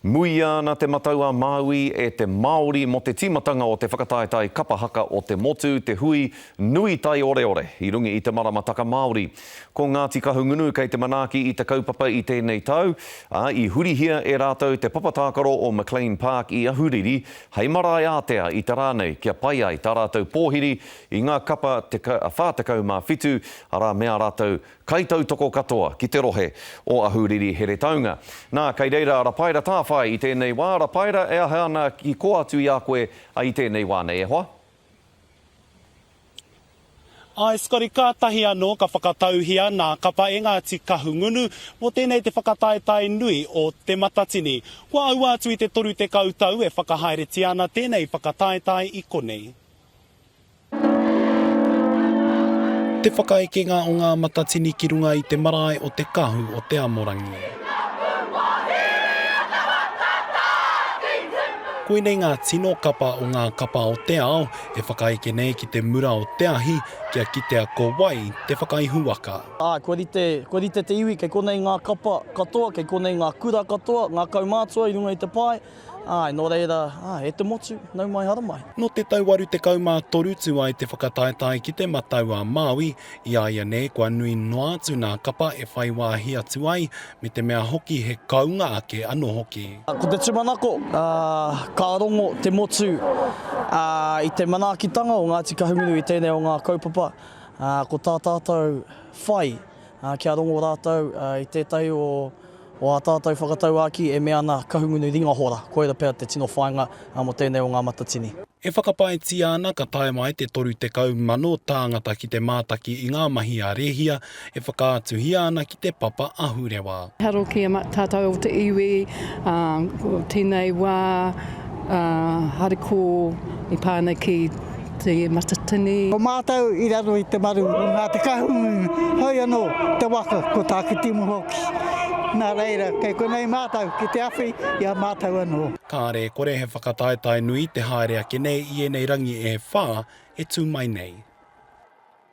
Muia ana te matau a Māui e te Māori mō te tīmatanga o te whakataetae kapa haka o te motu, te hui nui taioreore i runga i te maramataka Māori. Ko Ngāti Kahungunu kei te manaaki i te kaupapa i tēnei tau, ā, i hurihia e rātou te papa tākaro o McLean Park i Ahuriri hei marae ātea i te rā nei kia pai ai tā rātou pōhiri i ngā kapa 47, arā me ā rātou Kaitautoko katoa ki te rohe o Ahuriri Heretaunga. Nā, kei reira a Rapaira Tāwhai i tēnei wā. Rapaira, e aha ana ki koa atu i a koe i tēnei wā nei e hoa? Āe Scotty, kātahi anō ka whakatauhia nā Kapa e Ngāti Kahungunu mō tēnei te whakataetae nui o Te Matatini. Kua aua atu i te 30 tau e whakahaeretia ana tēnei whakataetae i konei. Te whakaekenga o ngā matatini ki runga i te marae o Te Kahu o Te Amorangi. Koinei ngā tino kapa o ngā kapa o te ao e whakaeke nei ki te mura o te ahi kia kitea ko wai te whakaihuwaka. Āe, kua rite, kua rite te iwi, kei konei ngā kapa katoa, kei konei ngā kura katoa, ngā kaumātua i runga i te pae. Āe, nō reira, āe, e te motu, nau mai hara mai. Nō te tau 83 tū ai te whakataetae ki te matau a Māui, i a ia nei kua nui noa atu nā kapa e whai wāhi atu ai, me te mea hoki he kounga ake anō hoki. Ko te tūmanako, ka rongo te motu i te manaakitanga o Ngāti Kahungunu i tēnei o ngā kaupapa, ko tā tātou whai, Kia rongo rātou i tētahi o ā tātou whakatauākī e mea ana Kahungunu Ringa Hora, koira pea te tino whāinga mō tēnei o ngā matatini. E whakapaetia ana ka tae mai te 30 mano tāngata ki te mātaki i ngā mahi a Rehia e whakaatuhia ana ki te papa ahurewa. Taro ki a tātou o te iwi, ko tēnei wā haere ko i pā nei ki. te matatini. Ko mātou i raro i te maru o Ngā Te Kahungunu, hoi anō te waka ko Tākitimu hoki. Nā reira, kei konei mātou ki te awhi i a mātou anō. Kāre e kore he whakataetae nui te haere ake nei i ēnei rangi e whā e tū mai nei.